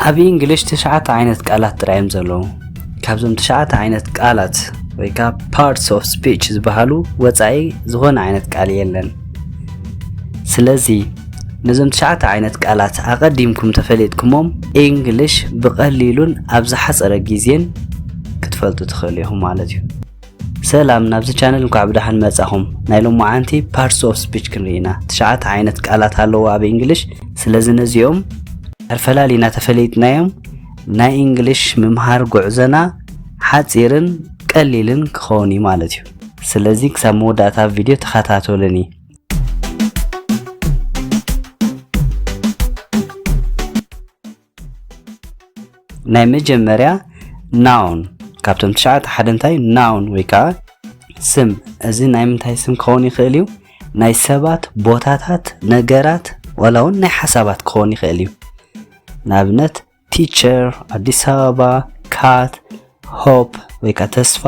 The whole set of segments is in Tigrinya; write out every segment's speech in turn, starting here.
ኣብ እንግሊሽ ትሽዓተ ዓይነት ቃላት ጥራይ እዮም ዘለዉ ካብዞም ትሽዓተ ዓይነት ቃላት ወይ ከዓ ፓርትስ ኦፍ ስፒች ዝበሃሉ ወፃኢ ዝኾነ ዓይነት ቃል የለን ስለዚ ነዞም ትሽዓተ ዓይነት ቃላት ኣቐዲምኩም ተፈሊጥኩሞም እንግሊሽ ብቐሊሉን ኣብ ዝሓፀረ ግዜን ክትፈልጡ ትኽእሉ ኢኹም ማለት እዩ ሰላም ናብዚ ቻነል እንኳዕ ብደሓን መጻኹም ናይ ሎማዓንቲ ፓርትስ ኦፍ ስፒች ክንርኢ ኢና ትሽዓተ ዓይነት ቃላት ኣለዉ ኣብ እንግሊሽ ስለዚ ነዚኦም ኣፈላሊና ተፈለይጥናዮም ናይ እንግሊሽ ምምሃር ጉዕዘና ሓጺርን ቀሊልን ክኸውን እዩ ማለት እዩ ስለዚ ክሳብ መወዳእታ ቪድዮ ተኸታተሉኒ ናይ መጀመርያ ናውን ካብቶም ትሽዓተ ሓደ እንታይ ናውን ወይ ከዓ ስም እዚ ናይ ምንታይ ስም ክኸውን ይኽእል እዩ ናይ ሰባት ቦታታት ነገራት ዋላ እውን ናይ ሓሳባት ክኸውን ይኽእል እዩ ንኣብነት ቲቸር ኣዲስ ኣበባ ካት ሆፕ ወይ ከዓ ተስፋ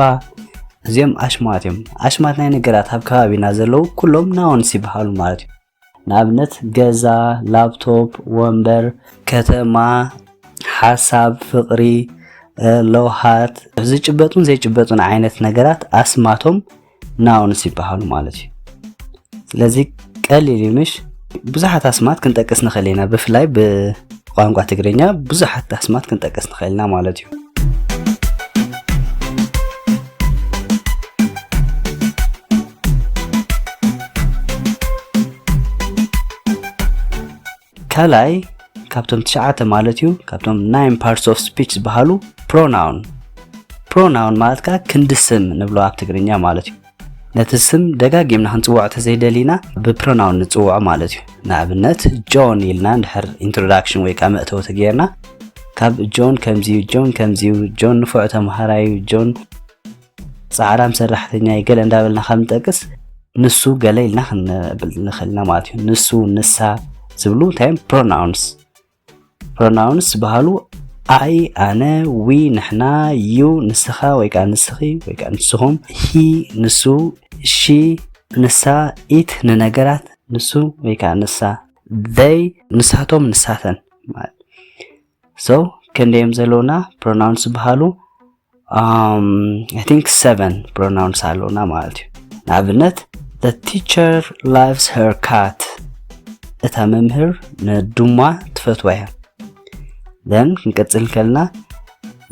እዚኦም ኣሽማት እዮም ኣሽማት ናይ ነገራት ኣብ ከባቢና ዘለዉ ኩሎም ናውንስ ይበሃሉ ማለት እዩ ንኣብነት ገዛ፣ ላፕቶፕ፣ ወንበር፣ ከተማ፣ ሓሳብ፣ ፍቕሪ፣ ለውሃት፣ ዝጭበጡን ዘይጭበጡን ዓይነት ነገራት ኣስማቶም ናውንስ ይበሃሉ ማለት እዩ። ስለዚ ቀሊል እዩ ምሽ ብዙሓት ኣስማት ክንጠቅስ ንኽእል ኢና ብፍላይ ብቋንቋ ትግርኛ ብዙሓት ኣስማት ክንጠቅስ ንኽእል ኢና ማለት እዩ ከላይ ካብቶም ትሽዓተ ማለት እዩ ካብቶም ናይን ፓርትስ ኦፍ ስፒች ዝበሃሉ ፕሮናውን ፕሮናውን ማለት ከዓ ክንዲ ስም ንብሎ ኣብ ትግርኛ ማለት እዩ ነቲ ስም ደጋጊምና ክንፅውዖ ተዘይደሊና ብፕሮናውን ንፅውዖ ማለት እዩ ንኣብነት ጆን ኢልና እንድሕር ኢንትሮዳክሽን ወይ ከዓ መእተዊ ተገይርና ካብ ጆን ከምዚዩ ጆን ከምዚዩ ጆን ንፉዕ ተምሃራዩ ጆን ጻዕራም ሰራሕተኛይ ገለ እንዳበልና ካብ ንጠቅስ ንሱ ገለ ኢልና ክንብል ንኽእል ኢና ማለት እዩ ንሱ ንሳ ዝብሉ እንታይ እዮም ፕሮናውንስ ፕሮናውንስ ዝበሃሉ ኣይ ኣነ ዊ ንሕና ዩ ንስኻ ወይ ከዓ ንስኺ ወይ ከዓ ንስኹም ሂ ንሱ ሺ ንሳ ኢት ንነገራት ንሱ ወይ ከዓ ንሳ ዘይ ንሳቶም ንሳተን ማለት ሶ ክንደዮም ዘለውና ፕሮናውንስ ዝበሃሉ ኣይ ቲንክ ሰቨን ፕሮናውንስ ኣለውና ማለት እዩ ንኣብነት the teacher loves her cat እታ መምህር ንዱማ ትፈትዋ እያ then ክንቀጽል ከልና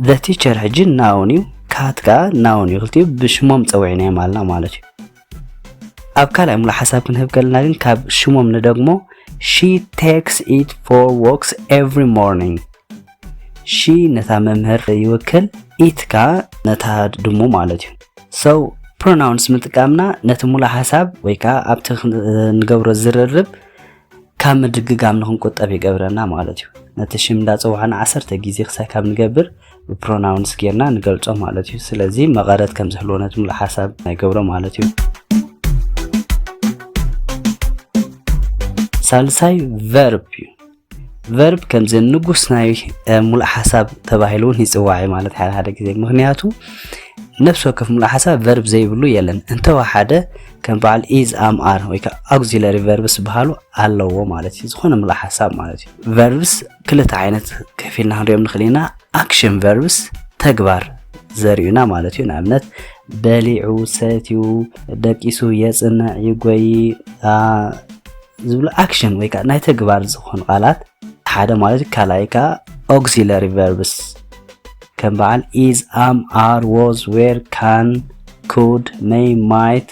the teacher ሕጂ ናውን እዩ ካት ከዓ ናውን እዩ ክልቲኡ ብሽሞም ፀዊዕናዮም ኣለና ማለት እዩ ኣብ ካልኣይ ሙሉእ ሓሳብ ክንህብ ከለና ግን ካብ ሽሞም ንደግሞ ሺ ቴክስ ኢት ፎር ዎክስ ኤቭሪ ሞርኒንግ ሺ ነታ መምህር ይውክል ኢት ከዓ ነታ ድሙ ማለት እዩ ሰው ፕሮናውንስ ምጥቃምና ነቲ ሙሉእ ሓሳብ ወይ ከዓ ኣብቲ ንገብሮ ዝርርብ ካብ ምድግጋም ንክንቁጠብ ይገብረና ማለት እዩ። ነቲ ሽም እንዳጸዋዕና ዓሰርተ ግዜ ክሳይ ካብ ንገብር ብፕሮናውንስ ጌርና ንገልጾ ማለት እዩ። ስለዚ መቐረት ከም ዝህልዎ ነቲ ምሉእ ሓሳብ ይገብሮ ማለት እዩ። ሳልሳይ ቨርብ እዩ። ቨርብ ከምዚ ንጉስ ናይ ሙሉእ ሓሳብ ተባሂሉ እውን ይፅዋዕ እዩ ማለት ሓደ ሓደ ግዜ ምክንያቱ ነፍሲ ወከፍ ሙሉእ ሓሳብ ቨርብ ዘይብሉ የለን እንተወሓደ ከም በዓል ኢዝ ኣም ኣር ወይ ከዓ ኣግዚለሪ ቨርብስ ዝበሃሉ ኣለዎ ማለት እዩ ዝኾነ ምሉእ ሓሳብ ማለት እዩ ቨርብስ ክልተ ዓይነት ከፊልና ክንሪኦም ንኽእል ኢና ኣክሽን ቨርብስ ተግባር ዘርእዩና ማለት እዩ ንኣብነት በሊዑ ሰትዩ ደቂሱ የፅንዕ ይጎይ ዝብሉ ኣክሽን ወይ ከዓ ናይ ተግባር ዝኾኑ ቃላት ሓደ ማለት እዩ ካልኣይ ከዓ ኦግዚለሪ ቨርብስ ከም በዓል ኢዝ ኣም ኣር ዎዝ ዌር ካን could may might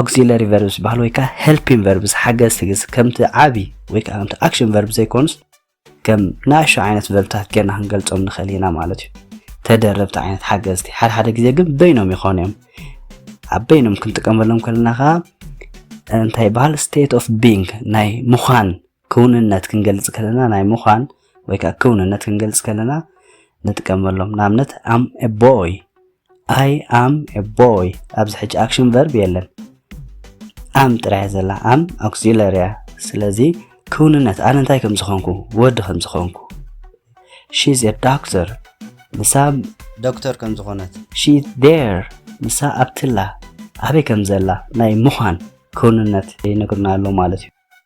ኦግዚለሪ ቨርብ ዝበሃል ወይ ከዓ ሄልፒን ቨርብስ ሓገዝቲ ግስ ከምቲ ዓብዪ ወይ ከዓ ከምቲ ኣክሽን ቨርብ ዘይኮኑስ ከም ናእሾ ዓይነት ቨርብታት ጌርና ክንገልፆም ንኽእል ኢና ማለት እዩ ተደረብቲ ዓይነት ሓገዝቲ ሓደ ሓደ ግዜ ግን በይኖም ይኾኑ እዮም ኣብ በይኖም ክንጥቀመሎም ከለና ከዓ እንታይ ይበሃል ስቴት ኦፍ ቢንግ ናይ ምዃን ክውንነት ክንገልፅ ከለና ናይ ምዃን ወይ ከዓ ክውንነት ክንገልፅ ከለና ንጥቀመሎም ንኣብነት ኣም ቦይ ኣይ ኣም ኤ ቦይ ኣብዚ ሕጂ ኣክሽን ቨርብ የለን ኣም ጥራያ ዘላ ኣም ኣክሲለሪ እያ ስለዚ ክውንነት ኣነ እንታይ ከም ዝኾንኩ ወዲ ከም ዝኾንኩ ሺዝ ኤ ዶክተር ንሳ ዶክተር ከም ዝኾነት ሺ ዴር ንሳ ኣብትላ ኣበይ ከም ዘላ ናይ ምዃን ክውንነት ይነግርና ኣሎ ማለት እዩ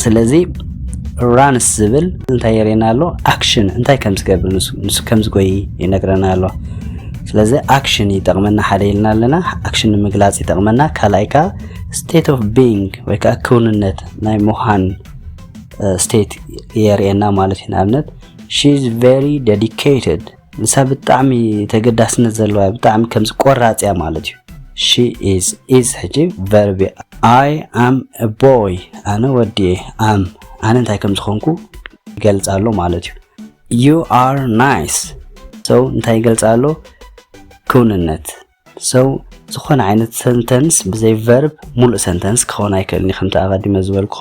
ስለዚ ራንስ ዝብል እንታይ የርእየና ኣሎ ኣክሽን እንታይ ከም ዝገብር ንሱ ከም ዝጎይ ይነግረና ኣሎ ስለዚ ኣክሽን ይጠቕመና ሓደ ኢልና ኣለና ኣክሽን ንምግላፅ ይጠቕመና ካልኣይ ከዓ ስቴት ኦፍ ቢንግ ወይ ከዓ ክውንነት ናይ ምዃን ስቴት የርእየና ማለት እዩ ንኣብነት ሺ ኢዝ ቨሪ ዴዲኬትድ ንሳ ብጣዕሚ ተገዳስነት ዘለዋ ብጣዕሚ ከምዚ ቆራጽ እያ ማለት እዩ ሺ ኢዝ ኢዝ ሕጂ ቨርቢ ኣይ ኣም ቦይ ኣነ ወዲ እየ ኣም ኣነ እንታይ ከም ዝኾንኩ ይገልጻ ኣሎ ማለት እዩ ዩ ኣር ናይስ ሰው እንታይ ይገልጻ ኣሎ ክውንነት ሰው ዝኾነ ዓይነት ሰንተንስ ብዘይ ቨርብ ሙሉእ ሰንተንስ ክኸውን ኣይክእልን እዩ ከምቲ ኣቐዲመ ዝበልኩ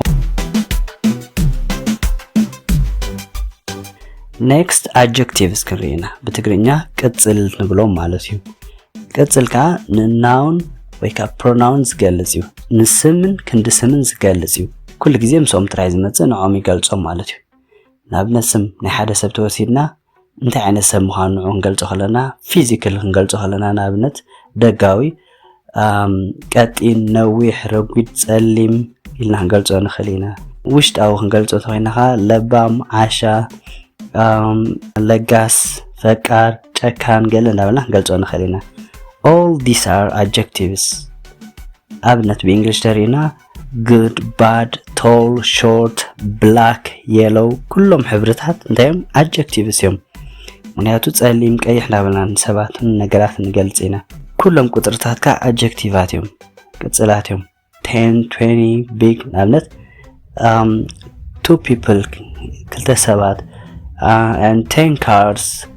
ኔክስት ኣጀክቲቭስ ክንርኢ ኢና ብትግርኛ ቅፅል ንብሎም ማለት እዩ ቅፅል ከዓ ንናውን ወይ ከዓ ፕሮናውን ዝገልፅ እዩ ንስምን ክንዲ ስምን ዝገልፅ እዩ ኩሉ ግዜ ምስኦም ጥራይ ዝመፅእ ንዖም ይገልፆም ማለት እዩ ንኣብነት ስም ናይ ሓደ ሰብ ተወሲድና እንታይ ዓይነት ሰብ ምዃኑ ንዑ ክንገልጾ ከለና ፊዚክል ክንገልጾ ከለና ንኣብነት ደጋዊ ቀጢን ነዊሕ ረጒድ ጸሊም ኢልና ክንገልጾ ንኽእል ኢና ውሽጣዊ ክንገልጾ እንተኮይና ከ ለባም ዓሻ ለጋስ ፈቃር ጨካን ገለ እንዳበልና ክንገልጾ ንኽእል ኢና all these are adjectives ኣብነት ብእንግሊሽ ተሪእና good bad tall short black yellow ኩሎም ሕብርታት እንታይ እዮም ኣድጀክቲቭስ እዮም ምክንያቱ ጸሊም ቀይሕ እንዳበልና ንሰባት ነገራት ንገልጽ ኢና ኩሎም ቁጥርታት ከዓ ኣድጀክቲቫት እዮም ቅጽላት እዮም 10 20 ቢግ ንኣብነት ቱ ፒፕል ክልተ ሰባት and 10 cars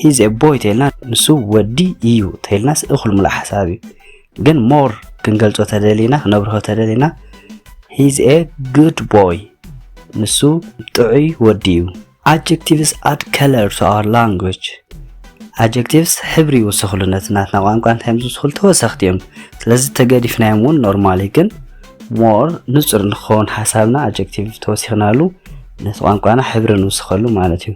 ሂዝ ኤ ቦይ ተልና ንሱ ወዲ እዩ ተልናስ እኹል ሙሉእ ሓሳብ እዩ ግን ሞር ክንገልጾ ተደሊና ክነብርሆ ተደሊና ሂዝ ኤ ጉድ ቦይ ንሱ ጥዑይ ወዲ እዩ ኣጀክቲቭስ ኣድ ከለር ቱ ኣወር ላንጉጅ ኣጀክቲቭስ ሕብሪ ይውስኽሉ ነቲ ናትና ቋንቋ እንታይ ዝውስኽሉ ተወሰኽቲ እዮም ስለዚ ተገዲፍናዮም እውን ኖርማሊ ግን ሞር ንጹር ንክኸውን ሓሳብና ኣጀክቲቭ ተወሲኽናሉ ነቲ ቋንቋና ሕብሪ ንውስኸሉ ማለት እዩ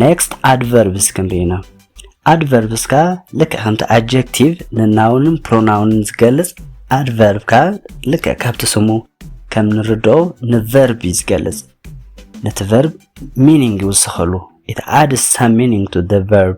ኔክስት ኣድቨርብስ ክንርኢ ኢና ኣድቨርብስ ከዓ ልክዕ ከምቲ ኣጀክቲቭ ንናውንን ፕሮናውንን ዝገልጽ ኣድቨርብ ከዓ ልክዕ ካብቲ ስሙ ከም ንርድኦ ንቨርብ እዩ ዝገልጽ ነቲ ቨርብ ሚኒንግ ይውስኸሉ ኢት ኣድስ ሳም ሚኒንግ ቱ ቨርብ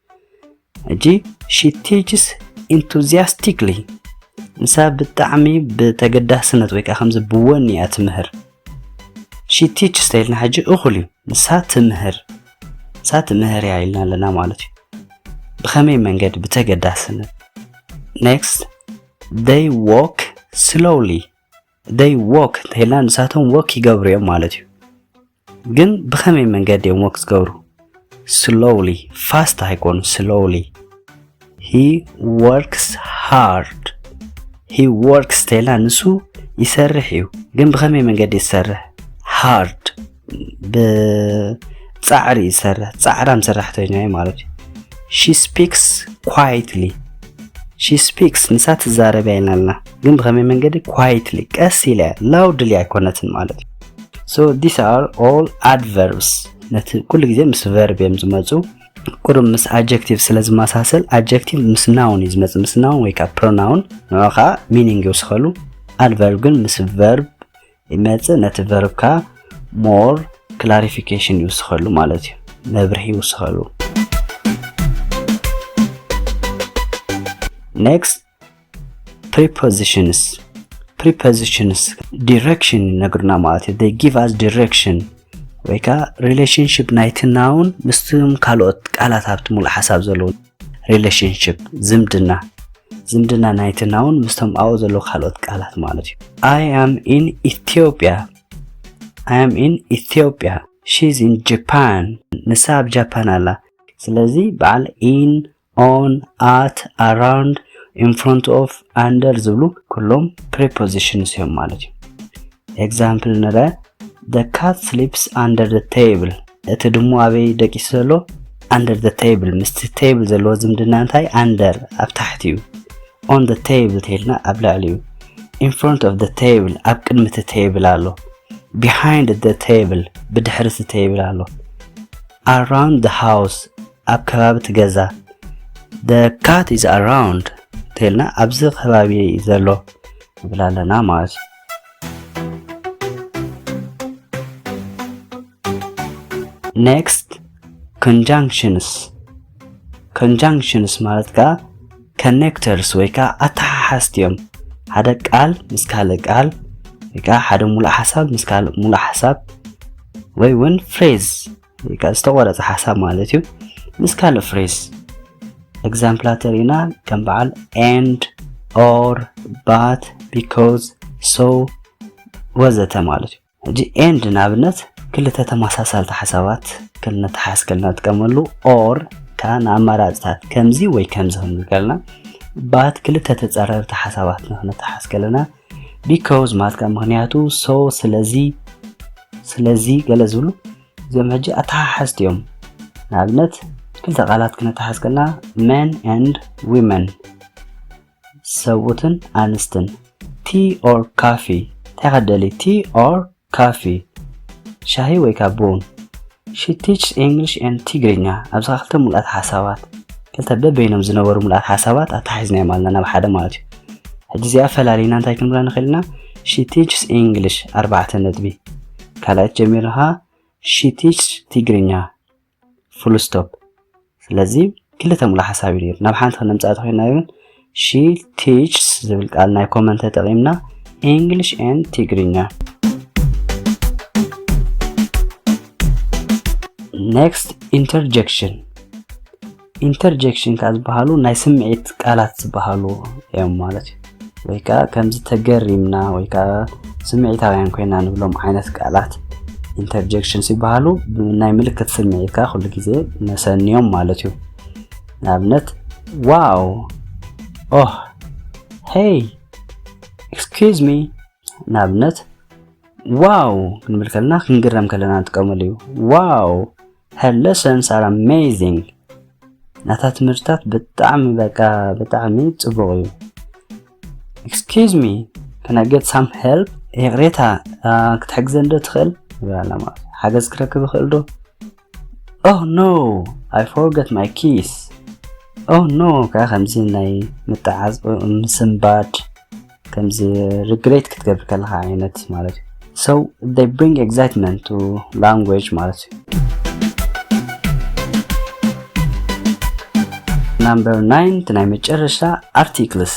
ሕጂ ሺ ቲችስ ኢንቱዚያስቲክሊ ንሳ ብጣዕሚ ብተገዳስነት ወይ ከዓ ከምዚ ብወኒ እያ ትምህር ሺ ቲችስ ተይልና ሕጂ እኹል እዩ ንሳ ትምህር ንሳ ትምህር እያ ኢልና ኣለና ማለት እዩ ብኸመይ መንገዲ ብተገዳስነት ኔክስት they walk slowly ደይ ዎክ እንተይልና ንሳቶም ወክ ይገብሩ እዮም ማለት እዩ ግን ብኸመይ መንገዲ እዮም ወክ ዝገብሩ ስሎውሊ ፋስት ኣይኮኑ ስሎውሊ ሂ ወርክስ ሃርድ ሂ ወርክስ እንተይልና ንሱ ይሰርሕ እዩ ግን ብኸመይ መንገዲ ዝሰርሕ ሃርድ ብጻዕሪ እዩ ዝሰርሕ ጻዕራም ሰራሕተኛ እዩ ማለት እዩ ሺ ስፒክስ ኳይትሊ ሺ ስፒክስ ንሳ ትዛረብ ኢና ኣለና ግን ብኸመይ መንገዲ ኳይትሊ ቀስ ኢለ ላውድሊ ኣይኮነትን ማለት እዩ ሶ ዲስ ኣር ኦል ኣድቨርብስ ነቲ ኩሉ ግዜ ምስ ቨርብ እዮም ዝመፁ ቁሩብ ምስ ኣጀክቲቭ ስለ ዝመሳሰል ኣጀክቲቭ ምስ ናውን እዩ ዝመፅእ ምስ ናውን ወይ ከዓ ፕሮናውን ንዑ ከዓ ሚኒንግ ይውስኸሉ ኣድቨርብ ግን ምስ ቨርብ ይመጽእ ነቲ ቨርብካ ሞር ክላሪፊኬሽን ይውስኸሉ ማለት እዩ መብርሂ ይውስኸሉ ኔክስት ፕሪፖዚሽንስ ፕሪፖዚሽንስ ዲሬክሽን ይነግሩና ማለት እዩ ይ ጊቭ ኣስ ዲሬክሽን ወይ ከዓ ሪሌሽንሽፕ ናይቲ ናውን ምስም ካልኦት ቃላት ኣብቲ ሙሉእ ሓሳብ ዘለዉ ሪሌሽንሽፕ ዝምድና ዝምድና ናይቲ ናውን ምስቶም ኣብኡ ዘለዉ ካልኦት ቃላት ማለት እዩ ኣይ ኣም ኢን ኢትዮጵያ ኣይ ኣም ኢን ኢትዮጵያ ሺዝ ኢን ጃፓን ንሳ ኣብ ጃፓን ኣላ ስለዚ በዓል ኢን ኦን ኣት ኣራውንድ ኢን ፍሮንት ኦፍ ኣንደር ዝብሉ ኩሎም ፕሪፖዚሽንስ እዮም ማለት እዩ ኤግዛምፕል ንረ ደ ካት ስሊፕስ ኣንደር ደ ቴብል እቲ ድሙ ኣበይ ደቂሱ ዘሎ ኣንደር ዘ ቴብል ምስቲ ቴብል ዘለዎ ዝምድና እንታይ ኣንደር ኣብ ታሕቲ እዩ ኦን ዘ ቴብል ተይልና ኣብ ላዕሊ እዩ ኢን ፍሮንት ኦፍ ዘ ቴብል ኣብ ቅድሚ እቲ ቴብል ኣሎ ቢሃይንድ ዘ ቴብል ብድሕሪ እቲ ቴብል ኣሎ ኣራውንድ ዘ ሃውስ ኣብ ከባቢ እቲ ገዛ ዘ ካት ኢዝ ኣራውንድ ተይልና ኣብዚ ከባቢ ዘሎ ንብል ኣለና ማለት እዩ ኔክስት ኮንጃንክሽንስ ኮንጃንክሽንስ ማለት ከዓ ከኔክተርስ ወይ ከዓ ኣተሓሓዝቲ እዮም ሓደ ቃል ምስ ካልእ ቃል ወይ ከዓ ሓደ ሙሉእ ሓሳብ ምስ ካልእ ሙሉእ ሓሳብ ወይ እውን ፍሬዝ ወይ ከዓ ዝተቆረፀ ሓሳብ ማለት እዩ ምስ ካልእ ፍሬዝ ኤግዛምፕላት ርኢና ከም በዓል ኤንድ ኦር ባት ቢኮዝ ሶ ወዘተ ማለት እዩ ሕጂ ኤንድ ንኣብነት ክልተ ተመሳሳልቲ ሓሳባት ከም መተሓሓዝ ከለና ንጥቀመሉ ኦር ከዓ ንኣማራፅታት ከምዚ ወይ ከምዚ ክንብል ከለና ባት ክልተ ተፃረርቲ ሓሳባት ንክነተሓሓዝ ከለና ቢኮዝ ማለት ከዓ ምክንያቱ ሶ ስለዚ ስለዚ ገለ ዝብሉ እዚኦም ሕጂ ኣተሓሓዝቲ እዮም ንኣብነት ክልተ ቃላት ክነተሓሓዝ ከለና መን ኤንድ ዊመን ሰብኡትን ኣንስትን ቲ ኦር ካፊ ታይ ኢካ ትደሊ ቲ ኦር ካፊ ሻሂ ወይ ከኣ ቡን ሺ ቲችስ ኢንግሊሽ ኤንድ ትግርኛ ኣብዛ ክልተ ምሉኣት ሓሳባት ክልተ በበይኖም ዝነበሩ ምሉኣት ሓሳባት ኣተሓሒዝናዮም ኣለና ናብ ሓደ ማለት እዩ ሕጂ እዚኣ ፈላሊና እንታይ ክንብላ ንኽእል ኢና ሺ ቲችስ ኢንግሊሽ ኣርባዕተ ነጥቢ ካልኣይት ጀሚርካ ሺ ቲችስ ትግርኛ ፉልስቶፕ ስለዚ ክልተ ሙሉ ሓሳብ እዩ ናብ ሓንቲ ክነምፅኣ ተኮይና ይብን ሺ ቲችስ ዝብል ቃል ናይ ኮመን ተጠቂምና ኢንግሊሽ ኤን ትግርኛ ኔክስት ኢንተርጀክሽን ኢንተርጀክሽን ከኣ ዝበሃሉ ናይ ስምዒት ቃላት ዝበሃሉ እዮም ማለት እዩ ወይ ከዓ ከምዚ ተገሪምና ወይ ከዓ ስምዒታውያን ኮይና ንብሎም ዓይነት ቃላት ኢንተርጀክሽን ሲበሃሉ ናይ ምልክት ስምዒት ከዓ ኩሉ ግዜ መሰንዮም ማለት እዩ ንኣብነት ዋው ኦህ ሄይ ኤክስኪዝ ሚ ንኣብነት ዋው ክንብል ከለና ክንግረም ከለና ንጥቀመሉ እዩ ዋው Her lessons are amazing ናታ ትምህርትታት ብጣዕሚ በቃ ብጣዕሚ ጽቡቕ እዩ ኤክስኪዝ ሚ ከን ኣይ ጌት ሳም ሄልፕ ይቕሬታ ክትሕግዘን ዶ ትኽእል ይብላላ ማለት እዩ ሓገዝ ክረክብ ይኽእል ዶ ኦ ኖ ኣይ ፎርገት ማይ ኪስ ኦ ኖ ከዓ ከምዚ ናይ ምጥዓዝ ምስንባድ ከምዚ ሪግሬት ክትገብር ከለካ ዓይነት ማለት እዩ ሶ ይ ብሪንግ ኤግዛይትመንት ቱ ላንጉጅ ማለት እዩ ናምበር ናይን እቲ ናይ መጨረሻ ኣርቲክልስ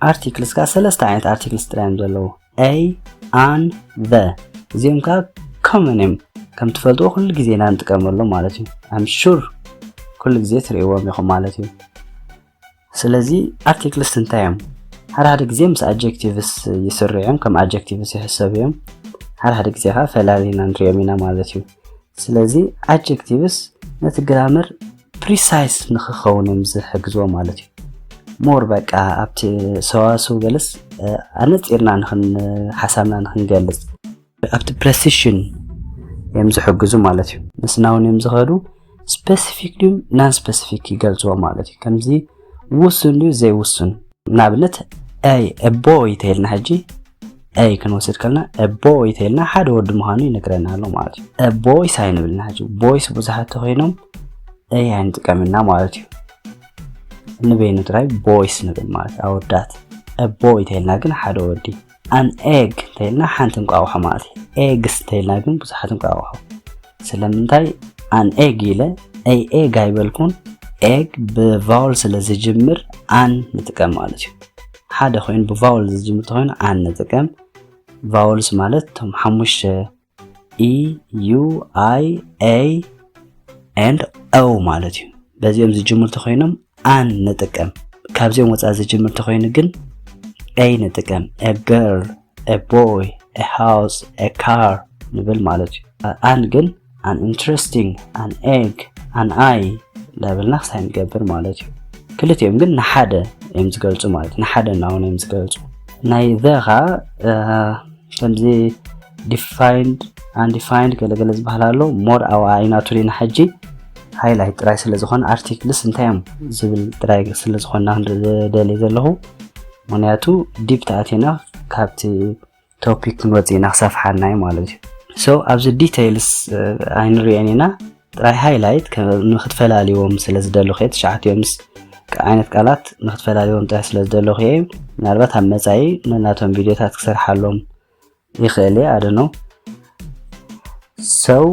ኣርቲክልስ ከዓ ሰለስተ ዓይነት ኣርቲክልስ ጥራይ እዮም ዘለዉ ኤ ኣን ዘ እዚኦም ከዓ ኮመን እዮም ከም ትፈልጥዎ ኩሉ ግዜ ኢና ንጥቀመሎም ማለት እዩ ኣም ሹር ኩሉ ግዜ ትርእይዎም ኢኹም ማለት እዩ ስለዚ ኣርቲክልስ እንታይ እዮም? ሓደ ሓደ ግዜ ምስ ኣጀክቲቭስ ይስርዑ እዮም፣ ከም ኣጀክቲቭስ ይሕሰቡ እዮም። ሓደ ሓደ ግዜ ከዓ ፈላሊና ንሪኦም ኢና ማለት እዩ። ስለዚ ኣጀክቲቭስ ነቲ ግራመር ፕሪሳይስ ንክኸውን እዮም ዝሕግዝዎ ማለት እዩ። ሞር በቃ ኣብቲ ሰዋስው ገለስ ኣነፂርና ንክን ሓሳብና ንክንገልፅ ኣብቲ ፕረሲሽን እዮም ዝሕግዙ ማለት እዩ ምስናውን እዮም ዝኸዱ ስፐሲፊክ ድዩ ናን ስፐሲፊክ ይገልፅዎ ማለት እዩ ከምዚ ውሱን ድዩ ዘይውሱን ንኣብነት ኣይ እቦ ይተይልና ሕጂ ኣይ ክንወስድ ከልና እቦ ይተይልና ሓደ ወዲ ምዃኑ ይነግረና ኣሎ ማለት እዩ ቦይስ ኣይንብልና ሕጂ ቦይስ ብዙሓት ተኮይኖም ኣይ ኣይንጥቀምና ማለት እዩ ንበይኑ ጥራይ ቦይስ ንብል ማለት ኣወዳት እቦ ይተይልና ግን ሓደ ወዲ ኣን ኤግ እንተይልና ሓንቲ እንቋቑሖ ማለት እዩ ኤግስ እንተይልና ግን ብዙሓት እንቋቑሖ ስለምንታይ ኣን ኤግ ኢለ ኣይ ኤግ ኣይበልኩን ኤግ ብቫውል ስለ ዝጅምር ኣን ንጥቀም ማለት እዩ ሓደ ኮይኑ ብቫውል ዝጅምር ተኮይኑ ኣን ንጥቀም ቫውልስ ማለት እቶም ሓሙሽተ ኢ ዩ ኣይ ኤይ ኤንድ ኦ ማለት እዩ በዚኦም ዝጅምሩ ተኮይኖም ኣን ንጥቀም ካብዚኦም ወፃኢ ዝጅምር ተኮይኑ ግን ኤይ ንጥቀም ኤ ገርል ኤ ቦይ ኤ ሃውስ ኤ ካር ንብል ማለት እዩ ኣን ግን ኣን ኢንትረስቲንግ ኣን ኤግ ኣን ኣይ እንዳበልና ክሳይ ንገብር ማለት እዩ ክልቲኦም ግን ንሓደ እዮም ዝገልፁ ማለት ንሓደ እናሆነ እዮም ዝገልፁ ናይ ዘ ከዓ ከምዚ ዲፋይንድ ኣንዲፋይንድ ገለገለ ዝበሃል ኣሎ ሞር ኣብኣ ኣይናቱን ኢና ሕጂ ሃይላይት ጥራይ ስለ ዝኾነ ኣርቲክልስ እንታይ እዮም ዝብል ጥራይ ስለ ዝኾንና ክንርኢ ዝደልየ ዘለኹ ምክንያቱ ዲፕ ተኣቲና ካብቲ ቶፒክ ክንወፅእ ኢና ክሰፍሓና እዩ ማለት እዩ ሶ ኣብዚ ዲቴይልስ ኣይንሪኦን ኢና ጥራይ ሃይላይት ንክትፈላልዎም ስለ ዝደለኹ እየ ትሽዓቲኦም ምስ ዓይነት ቃላት ንክትፈላልዎም ጥራሕ ስለ ዝደለኹ እየ ምናልባት ኣብ መፃኢ ነናቶም ቪድዮታት ክሰርሓሎም ይኽእል እየ ኣደኖ ሰው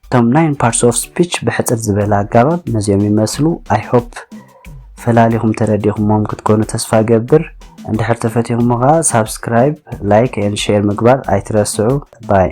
እቶም ናይን ፓርትስ ኦፍ ስፒች ብሕፅር ዝበለ ኣጋባብ ነዚኦም ይመስሉ ኣይሆፕ ፈላሊኹም ተረዲኹሞም ክትኮኑ ተስፋ እገብር እንድሕር ተፈቲኹሞ ከኣ ሳብስክራይብ ላይክ ኤንድ ሼር ምግባር ኣይትረስዑ ባይ